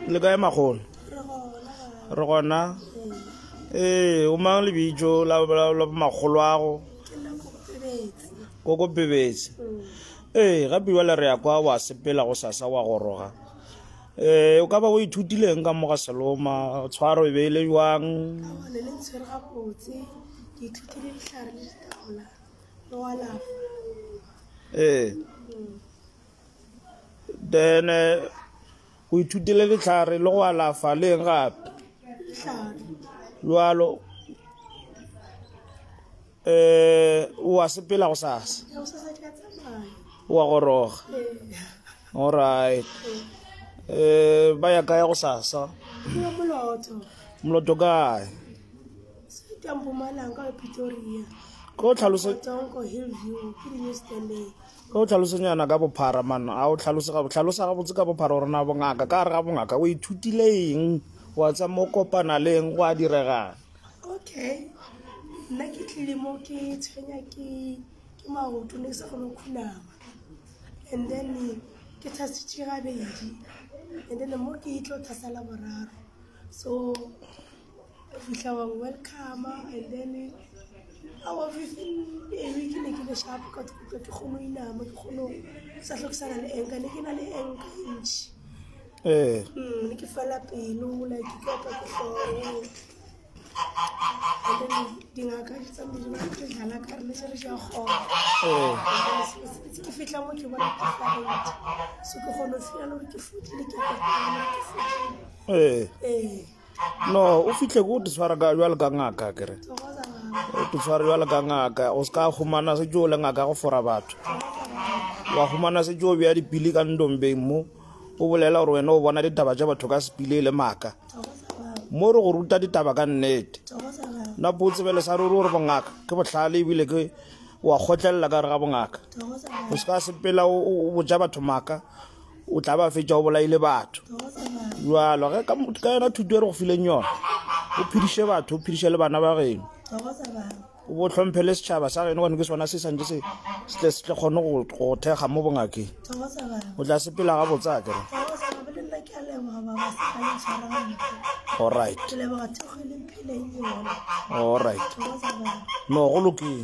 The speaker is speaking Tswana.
le kae magono re gona ee o mang lebitso la magolo ago koko pebetse ee ga biwa le re ya kwa wa sepela go sasa wa goroga um o ka ba o ithutileng ka moga seloma tshwaro e beile jwang ee then eh, o ithutile letlhare le go alafa le eng gape jalo um wa sepela go sasa wa goroga alright um ba ya kaya go sasa moloto kae ko tlhalose o tlhalosenyana ka bophara man a o tlhalosa gabotse ka bophara gore na bongaka ka re ga bongaka o ithutile eng wa tsa mo kopana le eng go a diregang okay nna ke tlile mo ke tshwenya ke ke maoto ne ke sa kgone go khunama and then ke thasitše gabedi and then mo ke itlo thasala boraro so o fitlha wa welcome and then a officing ebe ke ne ke le sharp ka tikutlwa ke kgone inama ke kgone sa tlhokisana le enka ne ke na le enka ntšhi ee hmm, ne ke fela pelo like ke opa ke tlhoo dingaka di tsamedi ba ke dlala ka rene se re ja kgona ke fitlha mo ke bona ke farente so ke kgone o fitlhela gore ke fotlile ke ke fotlile ee no o fitlhe ko o te tshwara jwale ka ngaka kere o te tshwara jwale ka ngaka o se ka humana se jo le ngaka go fora batho wa humana se jo bja dipili ka ndombeng mo o bolela gore wena o bona ditaba tša batho ka sepile e le maaka mo re go ruta ditaba ka nnete na po tsebele sa ruri gore bongaka ke botlhale ebile ke wa kgotlelela ka re ga bongaka o se ka sepela o boja batho maaka o tla ba fetsa o bolaile batho jalo ge ka yona thuto e re go fileng yona o phediše batho o phediše le bana ba geno o bo tlhomphe le setšhaba sa geno gone ke sona se santse se tle se tle kgone go thekga mo bongakeng o tla sepela ga botsa kere alright alright no go lokile